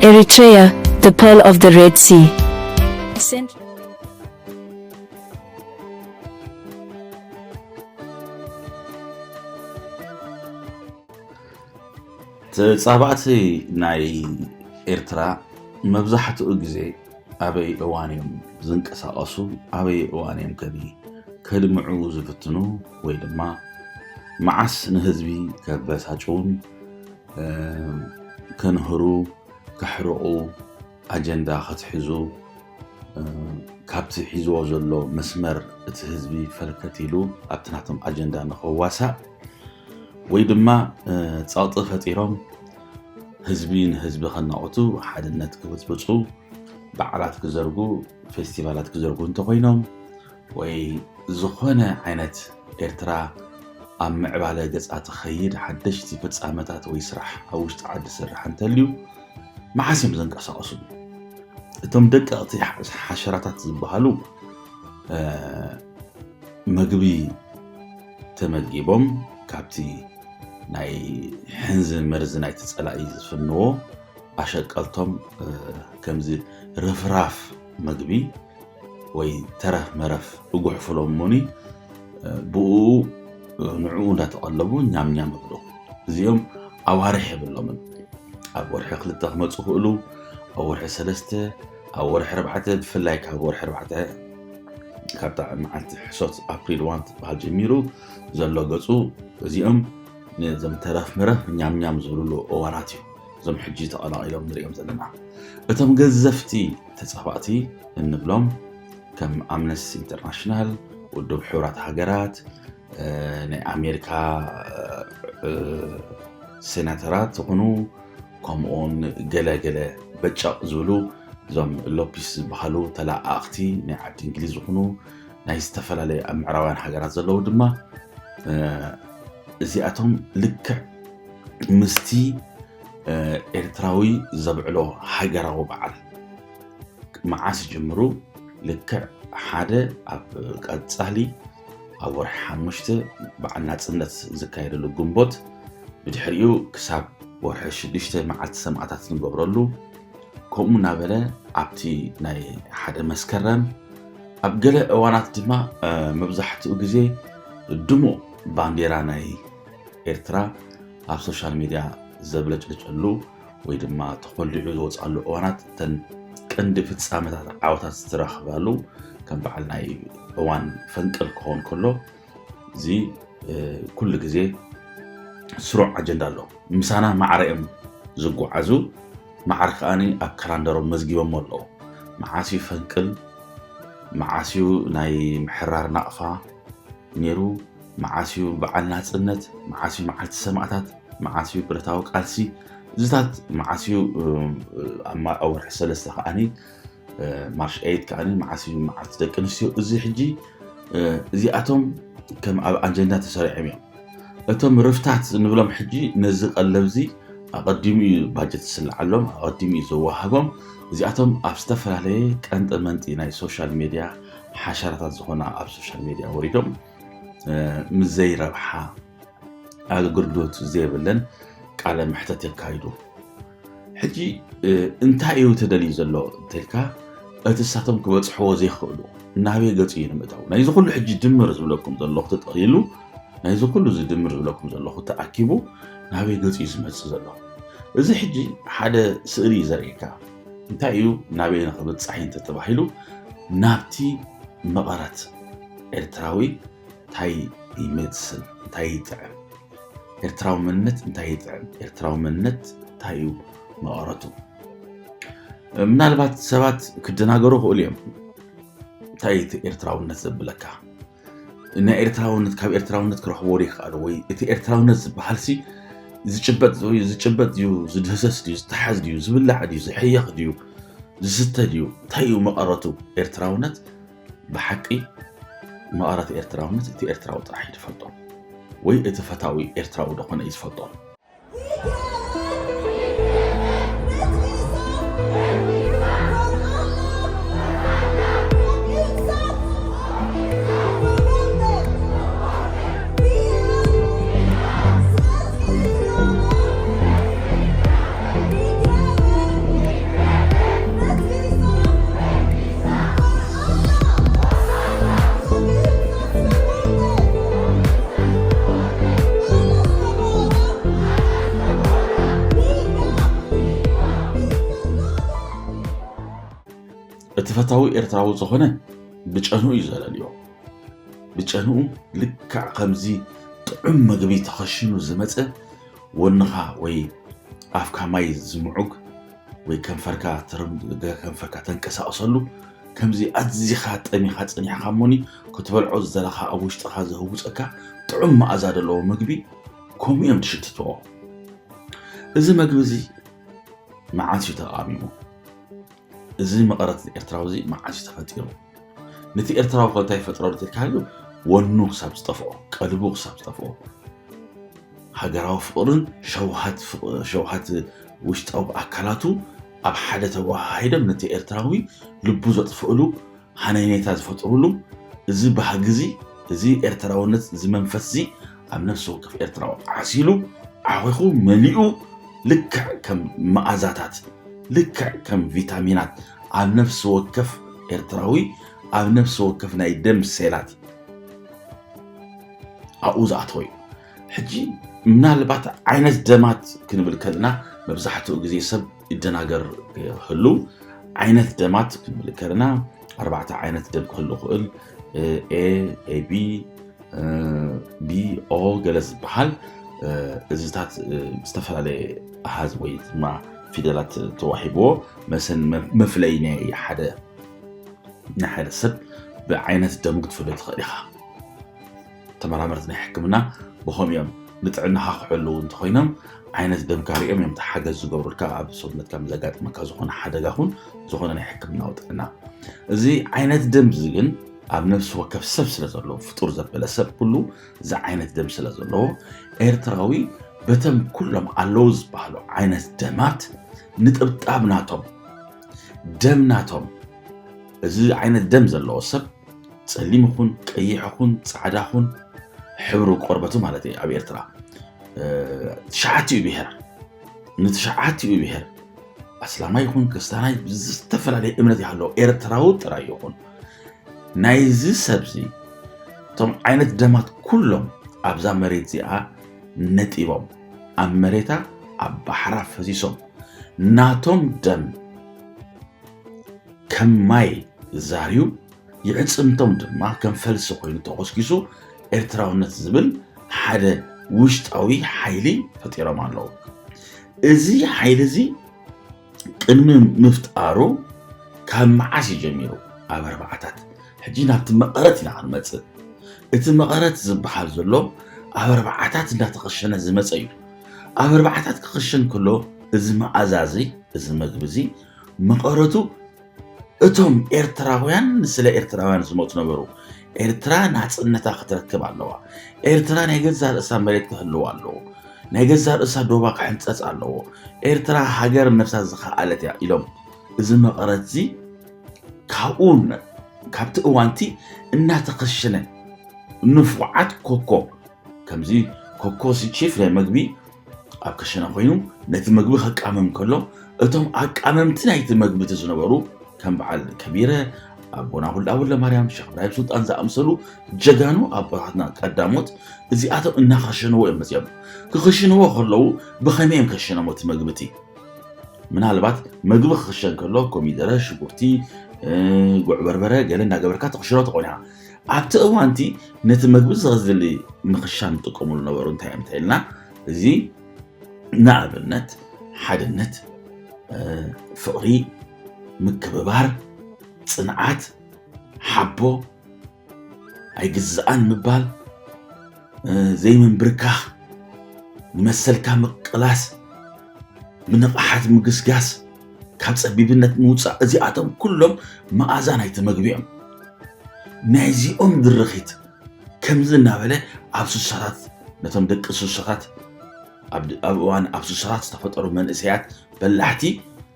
Eritrea, the pearl of the Red Sea. Cent- ተጻባእቲ ናይ ኤርትራ መብዛሕትኡ ግዜ ኣበይ እዋን እዮም ዝንቀሳቐሱ ኣበይ እዋን እዮም ከ ከድምዑ ዝፍትኑ ወይ ድማ መዓስ ንህዝቢ ከበሳጭውን ከንህሩ ከሕርቑ ኣጀንዳ ከትሕዙ ካብቲ ሒዝዎ ዘሎ መስመር እቲ ህዝቢ ፈልከት ኢሉ ኣብቲ ናቶም ኣጀንዳ ንኸዋሳእ ወይ ድማ ፀቕጢ ፈጢሮም ህዝቢ ንህዝቢ ከናቑቱ ሓድነት ክብፅብፁ በዓላት ክዘርጉ ፌስቲቫላት ክዘርጉ እንተኮይኖም ወይ ዝኾነ ዓይነት ኤርትራ ኣብ ምዕባለ ገጻ ትኸይድ ሓደሽቲ ፍጻመታት ወይ ስራሕ ኣብ ውሽጢ ዓዲ ዝስራሕ እንተልዩ መዓስ እዮም ዘንቀሳቐሱ እቶም ደቀቕቲ ሓሸራታት ዝበሃሉ መግቢ ተመጊቦም ካብቲ ናይ ሕንዚ መርዚ ናይቲ ፀላኢ ዝፍንዎ ኣሸቀልቶም ከምዚ ርፍራፍ መግቢ ወይ ተረፍ መረፍ እጉሕፍሎም እሞኒ ብኡ ንዕኡ እንዳተቐለቡ ኛም ኛም እብሉ እዚኦም ኣዋርሕ የብሎምን ኣብ ወርሒ ክልተ ክመፁ ክእሉ ኣብ ወርሒ ሰለስተ ኣብ ወርሒ ኣርባዕተ ብፍላይ ካብ ወርሒ ኣርባዕተ ካብታ መዓልቲ ሕሶት ኣፕሪል ዋን ትበሃል ጀሚሩ ዘሎ ገፁ እዚኦም ነዞም ተረፍ መረፍ ኛምኛም ዝብልሉ እዋናት እዩ እዞም ሕጂ ተቐላቒሎም ንሪኦም ዘለና እቶም ገዘፍቲ ተፃባእቲ እንብሎም ከም ኣምነስቲ ኢንተርናሽናል፣ ውድብ ሕቡራት ሃገራት፣ ናይ ኣሜሪካ ሴናተራት ዝኾኑ ከምኡውን ገለገለ በጨቕ ዝብሉ እዞም ሎፒስ ዝበሃሉ ተለኣኣኽቲ ናይ ዓዲ እንግሊዝ ዝኾኑ ናይ ዝተፈላለዩ ኣብ ምዕራባውያን ሃገራት ዘለዉ ድማ እዚኣቶም ልክዕ ምስቲ ኤርትራዊ ዘብዕሎ ሃገራዊ በዓል መዓስ ጀምሩ ልክዕ ሓደ ኣብ ቀፃሊ ኣብ ወርሒ ሓሙሽተ በዓል ናፅነት ዝካየደሉ ግንቦት ብድሕሪኡ ክሳብ ወርሒ ሽዱሽተ መዓልቲ ሰማእታት ንገብረሉ ከምኡ እናበለ ኣብቲ ናይ ሓደ መስከረም ኣብ ገለ እዋናት ድማ መብዛሕትኡ ግዜ ድሙቕ ባንዴራ ናይ ኤርትራ ኣብ ሶሻል ሚድያ ዘብለጭልጨሉ ወይ ድማ ተኾሊዑ ዝወፅኣሉ እዋናት እተን ቀንዲ ፍፃመታት ዓወታት ዝተረኽባሉ ከም በዓል ናይ እዋን ፈንቅል ክኸውን ከሎ እዚ ኩሉ ግዜ ስሩዕ ኣጀንዳ ኣሎ ምሳና ማዕረ እዮም ዝጓዓዙ ማዕረ ከዓኒ ኣብ ካላንደሮም መዝጊቦሞ ኣለዉ መዓስ እዩ ፈንቅል መዓስ እዩ ናይ ምሕራር ናቕፋ ነይሩ መዓስ እዩ በዓል ናጽነት? መዓስ እዩ መዓልቲ ሰማእታት? መዓስ እዩ ብረታዊ ቃልሲ? እዚታት መዓስ እዩ ኣብ ወርሒ ሰለስተ ከዓኒ ማርሽ ኤይት ከዓኒ መዓስ እዩ መዓልቲ ደቂ ኣንስትዮ? እዚ ሕጂ እዚኣቶም ከም ኣብ ኣጀንዳ ተሰሪዖም እዮም። እቶም ርፍታት ንብሎም ሕጂ ነዚ ቀለብዚ ኣቐዲሙ እዩ ባጀት ዝስልዓሎም፣ ኣቐዲሙ እዩ ዘወሃቦም። እዚኣቶም ኣብ ዝተፈላለየ ቀንጠ መንጢ ናይ ሶሻል ሜድያ ሓሸራታት ዝኾና ኣብ ሶሻል ሜድያ ወሪዶም ምስ ዘይረብሓ ኣገልግሎት ዘይብለን ቃለ መሕተት የካይዱ ሕጂ እንታይ እዩ ተደልዩ ዘሎ እንተልካ እቲ ሳቶም ክበፅሕዎ ዘይክእሉ ናበይ ገፅ እዩ ንምእታው ናይዚ ኩሉ ሕጂ ድምር ዝብለኩም ዘለኹ ተጠቕሊሉ ናይዚ ኩሉ እዚ ድምር ዝብለኩም ዘለኹ ተኣኪቡ ናበይ ገፅ እዩ ዝመፅእ ዘሎ እዚ ሕጂ ሓደ ስእሊ እዩ ዘርእካ እንታይ እዩ ናበይ ንክብፃሕ እንተ ተባሂሉ ናብቲ መቐረት ኤርትራዊ ታይ ይመስል ታይ ይጥዕም ኤርትራዊ መንነት እንታይ ይጥዕም ኤርትራዊ መንነት እንታይ እዩ መቐረቱ ምናልባት ሰባት ክደናገሩ ክእሉ እዮም እንታይ እቲ ኤርትራውነት ዘብለካ ናይ ኤርትራውነት ካብ ኤርትራውነት ክረኽቦ ይከኣሉ ወይ እቲ ኤርትራውነት ዝበሃል ሲ ዝጭበጥ ድዩ ዝጭበጥ ድዩ ዝድህሰስ ድዩ ዝተሓዝ ድዩ ዝብላዕ ድዩ ዝሕየኽ ድዩ ዝስተ ድዩ እንታይ እዩ መቐረቱ ኤርትራውነት ብሓቂ መቐረት ኤርትራውነት እቲ ኤርትራዊ ጥራሕ እዩ ዝፈልጦ ወይ እቲ ፈታዊ ኤርትራዊ ደኾነ እዩ ዝፈልጦ። እቲ ፈታዊ ኤርትራዊ ዝኾነ ብጨንኡ እዩ ዘለልዮ ብጨንኡ ልክዕ ከምዚ ጥዑም መግቢ ተኸሽኑ ዝመፀ ወንኻ ወይ ኣፍካ ማይ ዝምዑግ ወይ ከንፈርካ ከንፈርካ ተንቀሳቕሰሉ ከምዚ ኣዝኻ ጠሚኻ ጸኒሕካ እሞኒ ክትበልዖ ዝደለኻ ኣብ ውሽጥኻ ዘህውፀካ ጥዑም መኣዛ ዘለዎ ምግቢ ከምኡ እዮም ትሽትትዎ እዚ መግቢ እዚ መዓስ እዩ ተቓሚሙ እዚ መቐረት ኤርትራዊ እዚ መዓስ እዩ ተፈጢሩ ነቲ ኤርትራዊ ኮንታ ይፈጥረሉ ትልካሉ ወኑ ክሳብ ዝጠፍኦ ቀልቡ ክሳብ ዝጠፍኦ ሃገራዊ ፍቕርን ሸውሃት ውሽጣዊ ኣካላቱ ኣብ ሓደ ተወሃሂዶም ነቲ ኤርትራዊ ልቡ ዘጥፍእሉ ሃነይነይታ ዝፈጥሩሉ እዚ ባህጊ እዚ እዚ ኤርትራውነት እዚ መንፈስ እዚ ኣብ ነፍሲ ወከፍ ኤርትራዊ ዓሲሉ ዓኺኹ መሊኡ ልክዕ ከም መኣዛታት ልክዕ ከም ቪታሚናት ኣብ ነፍሲ ወከፍ ኤርትራዊ ኣብ ነፍሲ ወከፍ ናይ ደም ሴላት ኣብኡ ዝኣተወ እዩ ሕጂ ምናልባት ዓይነት ደማት ክንብል ከለና መብዛሕትኡ ግዜ ሰብ ይደናገር ክህሉ ዓይነት ደማት ክንምልክ ከለና ኣርባዕተ ዓይነት ደም ክህሉ ክእል ኤ ኤቢ ቢኦ ገለ ዝበሃል እዚታት ዝተፈላለየ ኣሃዝ ወይ ድማ ፊደላት ተዋሂብዎ መሰን መፍለይ ናይ ሓደ ናይ ሓደ ሰብ ብዓይነት ደም ክትፍለ ትኽእል ኢኻ ተመራመርቲ ናይ ሕክምና ብኸምኡ እዮም ንጥዕናኻ ክሕልው እንተኾይኖም ዓይነት ደምካ ሪኦም እዮም ሓገዝ ዝገብሩልካ ኣብ ሰውነትካ ዘጋጥመካ ዝኾነ ሓደጋ ኹን ዝኾነ ናይ ሕክምናዊ ጥዕና እዚ ዓይነት ደም እዚ ግን ኣብ ነፍሲ ወከፍ ሰብ ስለ ዘለዎ ፍጡር ዘበለ ሰብ ኩሉ እዚ ዓይነት ደም ስለ ዘለዎ ኤርትራዊ በተም ኩሎም ኣለዉ ዝበሃሉ ዓይነት ደማት ንጥብጣብ ናቶም ደም ናቶም እዚ ዓይነት ደም ዘለዎ ሰብ ጸሊም ይኹን ቀይሕ ይኹን ጻዕዳ ይኹን ሕብሪ ቆርበቱ ማለት እዩ ኣብ ኤርትራ ትሽዓቲኡ ብሄር ንትሽዓቲኡ ብሄር ኣስላማይ ይኹን ክርስቲያናይ ዝተፈላለየ እምነት ይሃለዎ ኤርትራዊ ጥራይ ይኹን ናይዚ ሰብዚ እቶም ዓይነት ደማት ኩሎም ኣብዛ መሬት እዚኣ ነጢቦም ኣብ መሬታ ኣብ ባሕራ ፈሲሶም ናቶም ደም ከም ማይ ዛርዩ የዕፅምቶም ድማ ከም ፈልሲ ኮይኑ ተኾስኪሱ ኤርትራውነት ዝብል ሓደ ውሽጣዊ ሓይሊ ፈጢሮም ኣለዉ። እዚ ሓይሊ እዚ ቅድሚ ምፍጣሩ ካብ መዓስ እዩ ጀሚሩ? ኣብ ኣርባዓታት። ሕጂ ናብቲ መቐረት ኢና ክንመፅእ። እቲ መቐረት ዝበሃል ዘሎ ኣብ ኣርባዓታት እንዳተኸሸነ ዝመፀ እዩ። ኣብ ኣርባዓታት ክኽሸን ከሎ እዚ መኣዛ እዚ እዚ መግቢ እዚ መቐረቱ እቶም ኤርትራውያን ንስለ ኤርትራውያን ዝሞቱ ነበሩ። ኤርትራ ናጽነታ ክትረክብ ኣለዋ። ኤርትራ ናይ ገዛ ርእሳ መሬት ክህልዋ ኣለዎ። ናይ ገዛ ርእሳ ዶባ ክሕንጸጽ ኣለዎ። ኤርትራ ሃገር ነብሳ ዝኸኣለት እያ ኢሎም እዚ መቐረት እዚ ካብኡ ካብቲ እዋንቲ እናተኸሸነ ንፉዓት ኮኮ ከምዚ ኮኮ ቺፍ ናይ መግቢ ኣብ ክሽነ ኮይኑ ነቲ ምግቢ ከቃምም ከሎ እቶም ኣቃመምቲ ናይቲ መግቢ ዝነበሩ ከም በዓል ከቢረ ኣቦና ሁላ ወለማርያም ሸክ ብራሂም ሱልጣን ዝኣምሰሉ ጀጋኑ ኣቦታትና ቀዳሞት እዚኣቶም እናኸሸንዎ እዮም መፅኦም ክኽሽንዎ ከለዉ ብኸመይ እዮም ከሸኖሞ እቲ መግቢ እቲ ምናልባት መግቢ ክኽሸን ከሎ ኮሚደረ ሽጉርቲ ጉዕ በርበረ ገለ እናገበርካ ተኽሽኖ ትኾን ኢኻ ኣብቲ እዋን እቲ ነቲ መግቢ ዘዝሊ ምኽሻን ዝጥቀሙሉ ነበሩ እንታይ እዮም እንተኢልና እዚ ንኣብነት ሓድነት ፍቕሪ ምክብባር ፅንዓት ሓቦ ኣይግዛኣን ምባል ዘይምንብርካኽ ንመሰልካ ምቅላስ ብንቕሓት ምግስጋስ ካብ ጸቢብነት ምውጻእ እዚኣቶም ኩሎም መኣዛ ናይቲ መግቢ እዮም። ናይዚኦም ድርኺት ከምዚ እናበለ ኣብ ስሳታት ነቶም ደቂ ስሳታት ኣብ እዋን ኣብ ስሳታት ዝተፈጠሩ መንእሰያት በላሕቲ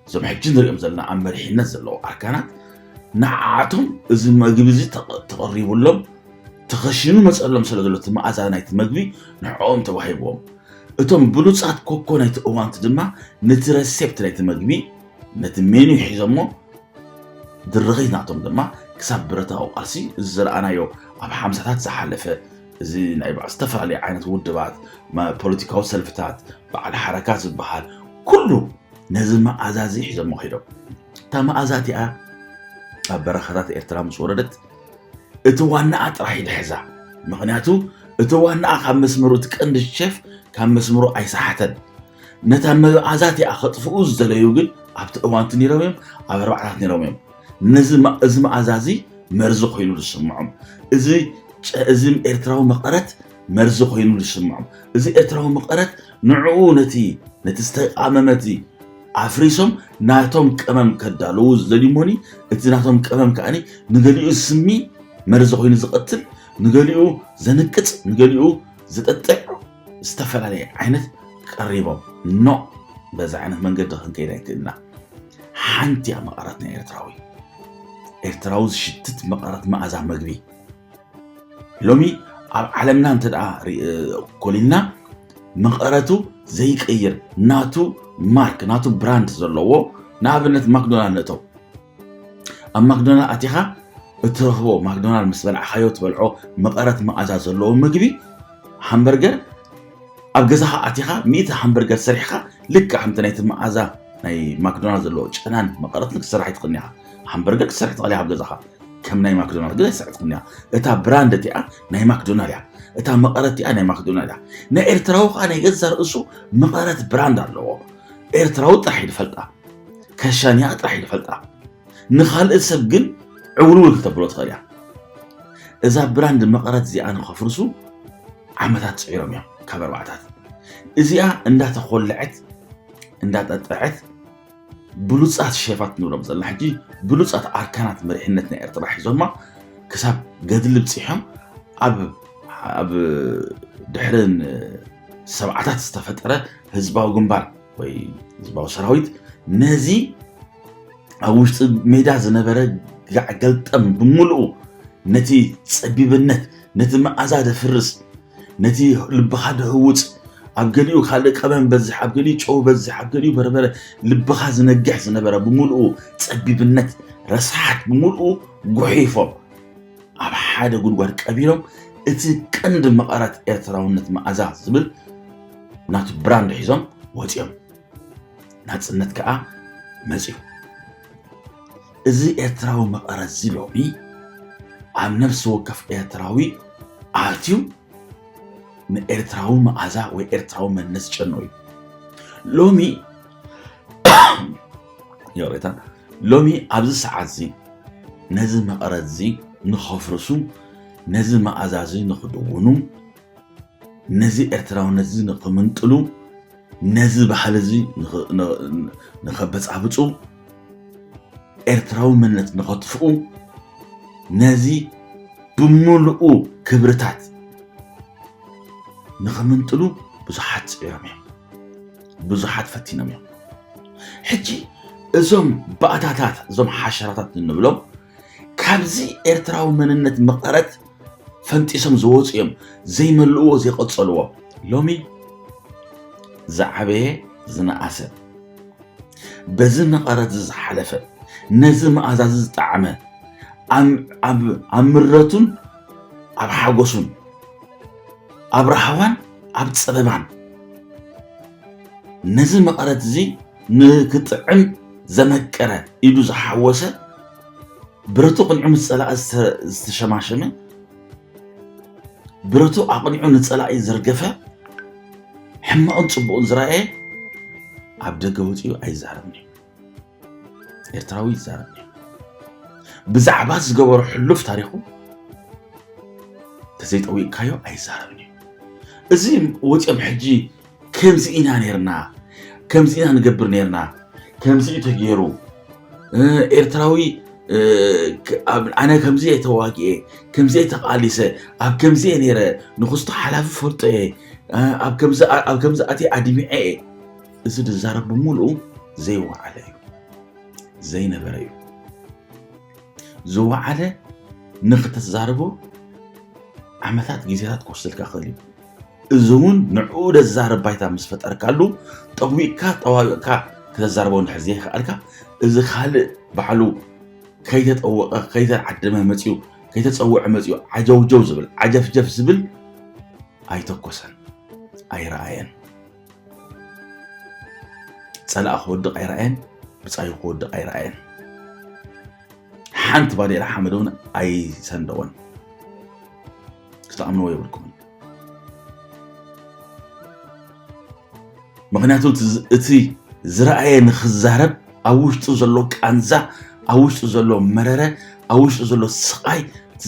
እዞም ሕጂ ንሪኦም ዘለና ኣብ መሪሕነት ዘለዉ ኣርካናት ንዓኣቶም እዚ መግቢ እዚ ተቐሪቡሎም ተኸሽኑ መፀሎም ስለ ዘሎ እቲ መኣዛ ናይቲ መግቢ ንዕኦም ተዋሂብዎም እቶም ብሉጻት ኮኮ ናይቲ እዋንቲ ድማ ነቲ ረሴፕት ናይቲ መግቢ ነቲ ሜኑ ሒዞሞ ድርኺት ናቶም ድማ ክሳብ ብረታዊ ቃልሲ እዚ ዝረኣናዮ ኣብ ሓምሳታት ዝሓለፈ እዚ ናይ በዓል ዝተፈላለዩ ዓይነት ውድባት ፖለቲካዊ ሰልፍታት በዓል ሓረካ ዝበሃል ኩሉ ነዚ መኣዛ እዚ ሒዞሞ ከይዶም እታ መኣዛ እቲኣ ኣብ በረኻታት ኤርትራ ምስ ወረደት እቲ ዋናኣ ጥራሕ ኢድ ሕዛ ምክንያቱ እቲ ዋናኣ ካብ መስመሩ እቲ ቀንዲ ሸፍ ካብ መስመሩ ኣይሰሓተን ነታ መብኣ ዛቲኣ ከጥፍኡ ዝደለዩ ግን ኣብቲ እዋንቲ ነይሮም እዮም ኣብ ኣርባዕታት ነይሮም እዮም ነዚ ማ- እዚ መኣዛ እዚ መርዚ ኮይኑ ዝስምዖም እዚ ጨ- እዚ ኤርትራዊ መቐረት መርዚ ኮይኑ ዝስምዖም እዚ ኤርትራዊ መቐረት ንዕኡ ነቲ ነቲ ዝተቃመመ እቲ ኣፍሪሶም ናቶም ቀመም ከዳለዉ ዝደልዩ እሞኒ እቲ ናቶም ቀመም ከዓኒ ንገሊኡ ዝስሚ መርዚ ኮይኑ ዝቐትል ንገሊኡ ዘንቅጽ ንገሊኡ ዘጠጥዕ ዝተፈላለየ ዓይነት ቀሪቦም ኖ በዚ ዓይነት መንገዲ ክንከይድ ኣይክእልና ሓንቲ እያ መቐረት ናይ ኤርትራዊ ኤርትራዊ ዝሽትት መቐረት መኣዛ መግቢ ሎሚ ኣብ ዓለምና እንተ ኮሊልና መቐረቱ ዘይቀይር ናቱ ማርክ ናቱ ብራንድ ዘለዎ ንኣብነት ማክዶናል ንእተው ኣብ ማክዶናል ኣቲኻ እትረኽቦ ማክዶናል ምስ በልዕኻዮ ትበልዖ መቐረት መኣዛ ዘለዎ ምግቢ ሃምበርገር ኣብ ገዛኻ ኣቲኻ ሚእቲ ሃምበርገር ሰሪሕኻ ልክዕ ከምቲ ናይቲ መኣዛ ናይ ማክዶናል ዘለዎ ጨናን መቐረትን ክስራሕ ይትኽእል ኢኻ ሃምበርገር ክሰርሕ ትኽእል ኢኻ ኣብ ገዛኻ ከም ናይ ማክዶናል ግን ኣይሰዕትኩም እያ እታ ብራንድ እቲኣ ናይ ማክዶናል እያ እታ መቐረት እያ ናይ ማክዶናል እያ ናይ ኤርትራዊ ከዓ ናይ ገዛ ርእሱ መቐረት ብራንድ ኣለዎ ኤርትራዊ ጥራሕ ይፈልጣ ከሻንያ ጥራሕ ይፈልጣ ንካልእ ሰብ ግን ዕውልውል ክተብሎ ትኽእል እያ እዛ ብራንድ መቐረት እዚኣ ንኸፍርሱ ዓመታት ፅዒሮም እዮም ካብ ኣርባዕታት እዚኣ እንዳተኮልዐት እንዳጠጠዐት ብሉፃት ሼፋት ንብሎም ዘለና ሕጂ ብሉፃት ኣርካናት መሪሕነት ናይ ኤርትራ ሒዞማ ክሳብ ገድሊ ብፂሖም ኣብ ድሕሪ ሰብዓታት ዝተፈጠረ ህዝባዊ ግንባር ወይ ህዝባዊ ሰራዊት ነዚ ኣብ ውሽጢ ሜዳ ዝነበረ ጋዕ ገልጠም ብምልኡ ነቲ ፀቢብነት ነቲ መኣዛ ደፍርስ ነቲ ልብኻ ድህውፅ ኣብ ገሊኡ ካልእ ቀመም በዝሕ ኣብ ገሊኡ ጨው በዝሕ ኣብ ገሊኡ በርበረ ልብኻ ዝነግሕ ዝነበረ ብምልኡ ፀቢብነት ረስሓት ብምልኡ ጉሒፎም ኣብ ሓደ ጉድጓድ ቀቢሮም እቲ ቀንዲ መቐረት ኤርትራውነት መኣዛ ዝብል ናቱ ብራንድ ሒዞም ወፂኦም ናፅነት ከዓ መፅኡ እዚ ኤርትራዊ መቐረት እዚ ሎሚ ኣብ ነፍሲ ወከፍ ኤርትራዊ ኣትዩ ንኤርትራዊ መዓዛ ወይ ኤርትራዊ መንነት ዝጨኖ እዩ ሎሚ ይቕሬታ ሎሚ ኣብዚ ሰዓት እዚ ነዚ መቐረት እዚ ንኸፍርሱ ነዚ መኣዛ እዚ ንኽድውኑ ነዚ ኤርትራውነት እዚ ንክምንጥሉ ነዚ ባህሊ እዚ ንኸበፃብፁ ኤርትራዊ መንነት ንኸጥፍኡ ነዚ ብምልኡ ክብርታት ንኽምንጥሉ ብዙሓት ፅዒሮም እዮም ብዙሓት ፈቲኖም እዮም ሕጂ እዞም ባእታታት እዞም ሓሸራታት እንብሎም ካብዚ ኤርትራዊ መንነት መቐረት ፈንጢሶም ዝወፁ እዮም ዘይመልእዎ ዘይቐፀልዎ ሎሚ ዝዓበየ ዝነኣሰ በዚ መቐረት ዝዝሓለፈ ነዚ መኣዛዚ ዝጠዓመ ኣብ ምረቱን ኣብ ሓጎሱን ኣብ ረሃዋን ኣብ ፀበባን ነዚ መቐረት እዚ ንክጥዕም ዘመቀረ ኢዱ ዝሓወሰ ብረቱ ቅንዑ ምስ ፀላኢ ዝተሸማሸመ ብረቱ ኣቕኒዑ ንፀላኢ ዘርገፈ ሕማቕን ፅቡቕን ዝረኣየ ኣብ ደገ ወፂኡ ኣይዛረብን እዩ ኤርትራዊ ይዛረብ እዩ ብዛዕባ ዝገበሮ ሕሉፍ ታሪኹ ተዘይጠዊቕካዮ ኣይዛረብን እዩ እዚ ወፂኦም ሕጂ ከምዚ ኢና ነርና ከምዚ ኢና ንገብር ነርና ከምዚ እዩ ተገይሩ ኤርትራዊ ኣነ ከምዚ እየ ተዋጊኤ ከምዚ እየ ተቃሊሰ ኣብ ከምዚ እየ ነይረ ንክስቶ ሓላፊ ፈልጦ እየ ኣብ ከምዚ ኣትየ ኣድሚዐ እየ እዚ ዝዛረብ ብምሉኡ ዘይወዓለ እዩ ዘይነበረ እዩ ዝወዓለ ንክተዛርቦ ዓመታት ግዜታት ክወስደልካ ክእል እዩ እዚ እውን ንዕኡ ዘዛርብ ባይታ ምስ ፈጠርካሉ ጠዊቕካ ጠዋዊቕካ ክተዛርቦ እንድሕር ዘይከኣልካ እዚ ካልእ ባዕሉ ከይተጠወቐ ከይተዓደመ መፅኡ ከይተፀወዐ መፅኡ ዓጀውጀው ዝብል ዓጀፍጀፍ ዝብል ኣይተኮሰን ኣይረኣየን ፀላእ ክወድቕ ኣይረኣየን ብፃዩ ክወድቕ ኣይረኣየን ሓንቲ ባዴላ ሓመድ እውን ኣይሰንደወን ክትኣምንዎ የብልኩምን ምክንያቱ እቲ ዝረኣየ ንክዛረብ ኣብ ውሽጡ ዘሎ ቃንዛ ኣብ ውሽጡ ዘሎ መረረ ኣብ ውሽጡ ዘሎ ስቃይ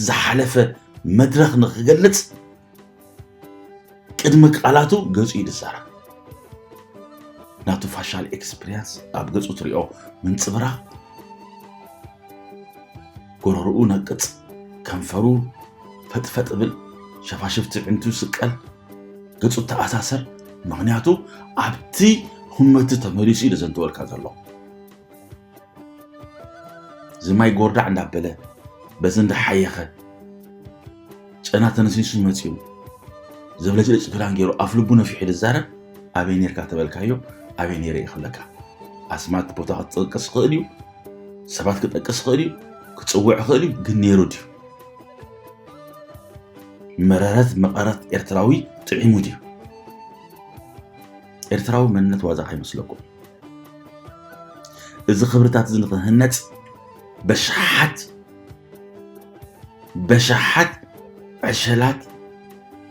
ዝሓለፈ መድረክ ንክገልፅ ቅድሚ ቃላቱ ገጹ እዩ ዝዛረብ። ናቱ ፋሻል ኤክስፕሪያንስ ኣብ ገጹ ትሪኦ ምንጽብራቕ ጎረርኡ ነቅጽ፣ ከንፈሩ ፈጥፈጥ ብል፣ ሸፋሽፍቲ ዕንቱ ስቀል፣ ገጹ ተኣሳሰር። ምክንያቱ ኣብቲ ሁመቲ ተመሊሱ እዩ ዘንተወልካ ዘሎ። ዝማይ ጎርዳዕ እንዳበለ በዚ እንዳሓየኸ ጨና ተነስኒሱ መፂኡ ዘብለጭልጭ ክዳን ገይሩ ኣፍ ልቡ ነፊሑ ዝዛረብ ኣበይ ነርካ ተበልካዮ ኣበይ ነይረ እዩ ክብለካ ኣስማት ቦታ ክትጠቅስ ይኽእል እዩ ሰባት ክጠቅስ ይኽእል እዩ ክፅውዕ ይኽእል እዩ ግን ነይሩ ድዩ መረረት መቐረት ኤርትራዊ ጥዒሙ ድዩ ኤርትራዊ መንነት ዋዛ ከይመስለኩም እዚ ክብርታት እዚ ንክህነፅ በሽሓት በሽሓት ዕሸላት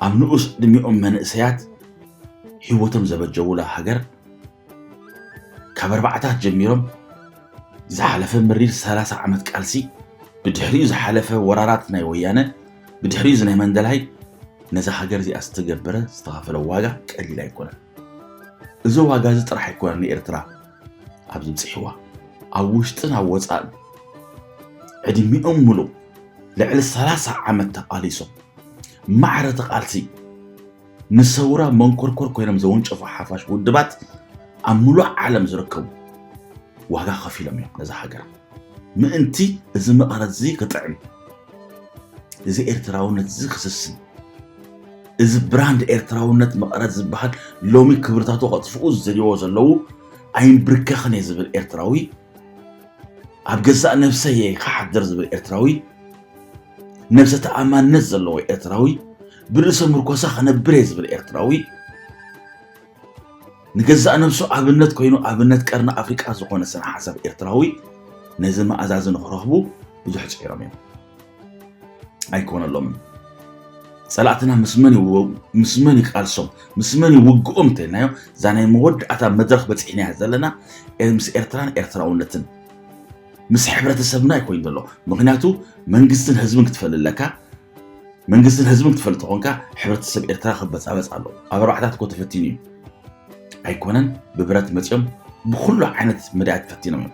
ኣብ ንኡስ ዕድሚኦም መንእሰያት ህይወቶም ዘበጀውላ ሃገር ካብ ኣርባዕታት ጀሚሮም ዝሓለፈ መሪር 30 ዓመት ቃልሲ ብድሕሪኡ ዝሓለፈ ወራራት ናይ ወያነ ብድሕሪኡ እዚ ናይ መንደላይ ነዛ ሃገር እዚኣ ዝተገበረ ዝተኸፈለ ዋጋ ቀሊል ኣይኮነን። እዚ ዋጋ እዚ ጥራሕ ኣይኮነን ንኤርትራ ኣብዚ ብፂሕዋ ኣብ ውሽጥን ኣብ ወፃእን ዕድሚኦም ምሉእ ልዕሊ ሰላሳ ዓመት ተቓሊሶም ማዕረ እቲ ቃልሲ ንሰውራ መንኮርኮር ኮይኖም ዘወንጨፉ ሓፋሽ ውድባት ኣብ ምሉእ ዓለም ዝርከቡ ዋጋ ከፊሎም እዮም ነዛ ሃገር ምእንቲ እዚ መቐረት እዚ ክጥዕም እዚ ኤርትራውነት እዚ ክስስን እዚ ብራንድ ኤርትራውነት መቐረት ዝበሃል ሎሚ ክብርታቱ ከጥፍኡ ዝደልይዎ ዘለዉ ኣይንብርከኽን እየ ዝብል ኤርትራዊ ኣብ ገዛእ ነብሰይ እየ ክሓድር ዝብል ኤርትራዊ ነብሰ ተኣማንነት ዘለዎ ኤርትራዊ ብርእሰ ምርኮሳ ክነብር እየ ዝብል ኤርትራዊ ንገዛእ ነብሱ ኣብነት ኮይኑ ኣብነት ቀርኒ ኣፍሪቃ ዝኾነ ስነ ሓሳብ ኤርትራዊ ነዚ መኣዛዚ ንክረኽቡ ብዙሕ ፅዒሮም እዮም ኣይኮነሎምን ፀላእትና ምስ መን ምስ መን ይቃልሶም ምስ መን ይውግኦም እንተልናዮ እዛ ናይ መወዳእታ መድረኽ በፂሕናያ ዘለና ምስ ኤርትራን ኤርትራውነትን ምስ ሕብረተሰብና ይኮይኑ ዘሎ ምክንያቱ መንግስትን ህዝብን ክትፈል ኣለካ መንግስትን ህዝብን ክትፈል ተኾንካ ሕብረተሰብ ኤርትራ ክበፃበፅ ኣሎ ኣብ ኣርባዕታት እኮ ተፈቲኑ እዩ ኣይኮነን ብብረት መፅኦም ብኩሉ ዓይነት መዳያት ፈቲኖም እዮም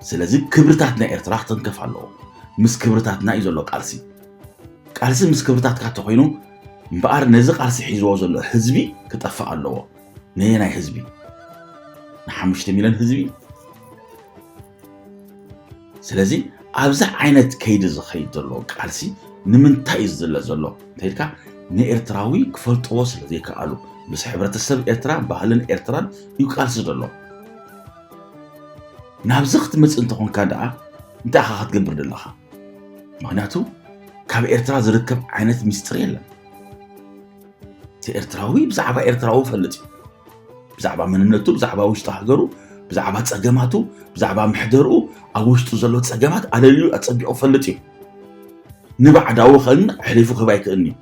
ስለዚ ክብርታት ናይ ኤርትራ ክትንከፍ ኣለዎ ምስ ክብርታትና እዩ ዘሎ ቃልሲ ቃልሲ ምስ ክብርታትካ ተኮይኑ እምበኣር ነዚ ቃልሲ ሒዝዎ ዘሎ ህዝቢ ክጠፍእ ኣለዎ ነየናይ ህዝቢ ንሓሙሽተ ሚልዮን ህዝቢ ስለዚ ኣብዚ ዓይነት ከይዲ ዝኸይድ ዘሎ ቃልሲ ንምንታይ እዩ ዝዝለ ዘሎ እንተይልካ ንኤርትራዊ ክፈልጥዎ ስለ ዘይከኣሉ ምስ ሕብረተሰብ ኤርትራ ባህልን ኤርትራን እዩ ቃልሲ ዘሎ ናብዚ ክትመፅእ እንተኾንካ ደኣ እንታይ ኢኻ ክትገብር ዘለኻ? ምክንያቱ ካብ ኤርትራ ዝርከብ ዓይነት ሚስጥር የለን። እቲ ኤርትራዊ ብዛዕባ ኤርትራዊ ፈልጥ እዩ። ብዛዕባ መንነቱ፣ ብዛዕባ ውሽጢ ሃገሩ፣ ብዛዕባ ፀገማቱ፣ ብዛዕባ ምሕደርኡ፣ ኣብ ውሽጡ ዘሎ ፀገማት ኣለልዩ ኣፀቢቑ ፈልጥ እዩ። ንባዕዳዊ ከን ሕሊፉ ክህብ ኣይክእልን እዩ።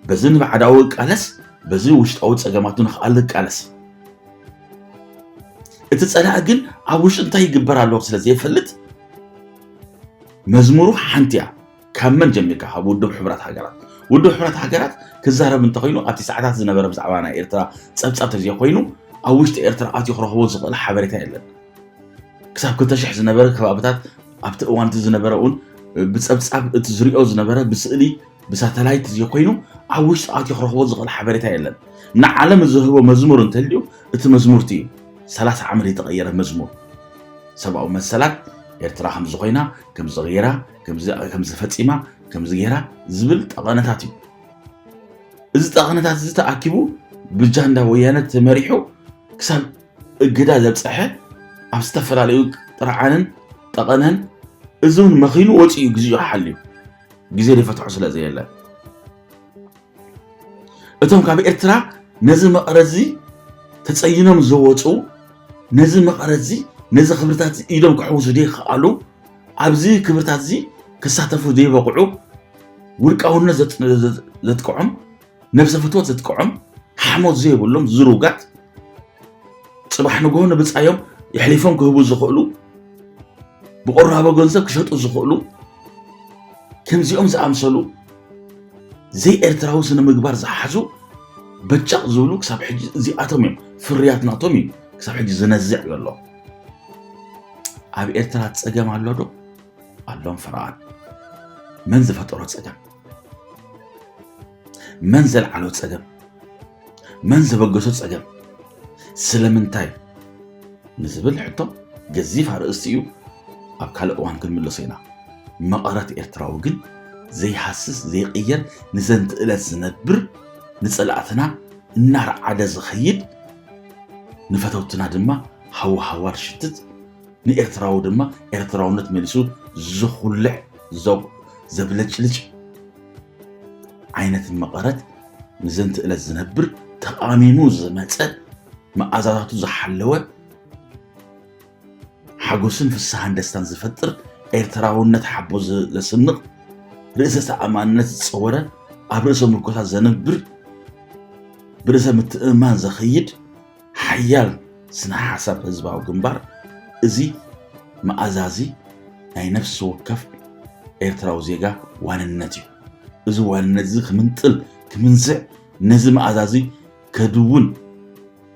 በዚ ንባዕዳዊ እቃለስ በዚ ውሽጣዊ ፀገማቱ ንክኣል እቃለስ እቲ ፀላኢ ግን ኣብ ውሽጢ እንታይ ይግበር ኣለዎ ስለ ዘይፈልጥ መዝሙሩ ሓንቲ እያ ካብ መን ጀሚርካ ካብ ውድብ ሕቡራት ሃገራት ውድብ ሕቡራት ሃገራት ክዛረብ እንተኮይኑ ኣብቲ ሰዓታት ዝነበረ ብዛዕባ ናይ ኤርትራ ፀብፃብ ተዘይ ኮይኑ ኣብ ውሽጢ ኤርትራ ኣትዩ ክረኽቦ ዝኽእል ሓበሬታ የለን ክሳብ ክልተ ሽሕ ዝነበረ ከባብታት ኣብቲ እዋን እቲ ዝነበረ እውን ብፀብፃብ እቲ ዝሪኦ ዝነበረ ብስእሊ ብሳተላይት ዘይኮይኑ ኣብ ውሽጢ ኣትዩ ክረኽቦ ዝኽእል ሓበሬታ የለን። ንዓለም ዝህቦ መዝሙር እንተልዩ እቲ መዝሙርቲ እዩ። ሰላሳ ዓመት የተቐየረ መዝሙር ሰብኣዊ መሰላት ኤርትራ ከምዚ ኮይና ከምዚ ገይራ ከምዚ ፈፂማ ከምዚ ገይራ ዝብል ጠቐነታት እዩ። እዚ ጠቐነታት እዚ ተኣኪቡ ብጃንዳ ወያነ ተመሪሑ ክሳብ እገዳ ዘብፀሐ ኣብ ዝተፈላለዩ ጥርዓንን ጠቐነን እዚ እውን መኺኑ ወፂኡ ግዚኡ ሓልዩ ግዜ ዝፈትሖ ስለ ዘየለ እቶም ካብ ኤርትራ ነዚ መቐረዚ ተጸይኖም ዝወፁ ነዚ መቐረዚ ነዚ ክብርታት ኢዶም ክሕውሱ ዘይከኣሉ ኣብዚ ክብርታት እዚ ክሳተፉ ዘይበቕዑ ውልቃውነት ዘጥቅዖም ነብሰ ፍትወት ዘጥቅዖም ሓሞት ዘይብሎም ዝሩጋት ፅባሕ ንግሆ ንብፃዮም የሕሊፎም ክህቡ ዝኽእሉ ብቆራቦ ገንዘብ ክሸጡ ዝኽእሉ ከምዚኦም ዝኣምሰሉ ዘይኤርትራዊ ስነ ምግባር ዝሓዙ በጫቕ ዝብሉ ክሳብ ሕጂ እዚኣቶም እዮም ፍርያት ናቶም እዩ ክሳብ ሕጂ ዝነዝዕ ዘሎ ኣብ ኤርትራ ፀገም ኣሎ ዶ ኣሎም ፈረቓን መን ዝፈጠሮ ፀገም መን ዘልዓሎ ፀገም፣ መን ዘበገሶ ፀገም፣ ስለምንታይ ንዝብል ሕቶ ገዚፍ ኣርእስቲ እዩ። ኣብ ካልእ እዋን ክንምለሶ ኢና። መቐረት ኤርትራዊ ግን ዘይሃስስ ዘይቕየር ንዘንቲ ዕለት ዝነብር ንፀላእትና እናርዓደ ዝኸይድ ንፈተውትና ድማ ሃወሃዋር ሽትት ንኤርትራዊ ድማ ኤርትራውነት መሊሱ ዝኹልዕ ዘብለጭልጭ ዓይነት መቐረት ንዘንቲ ዕለት ዝነብር ተቓሚሙ ዝመፀ መኣዛታቱ ዝሓለወ ሓጎስን ፍስሃን ደስታን ዝፈጥር ኤርትራውነት ሓቦ ዘስንቕ ርእሰ ተኣማንነት ዝፀወረ ኣብ ርእሰ ምርኮታ ዘነብር ብርእሰ ምትእምማን ዘኸይድ ሓያል ስነ ሓሳብ ህዝባዊ ግንባር እዚ መኣዛዚ ናይ ነፍሲ ወከፍ ኤርትራዊ ዜጋ ዋንነት እዩ። እዚ ዋንነት እዚ ክምንጥል ክምንዝዕ ነዚ መኣዛዚ ከድውን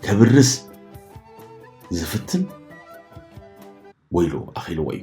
ከብርስ ዝፍትን ወይሉ ኣኺልዎ እዩ።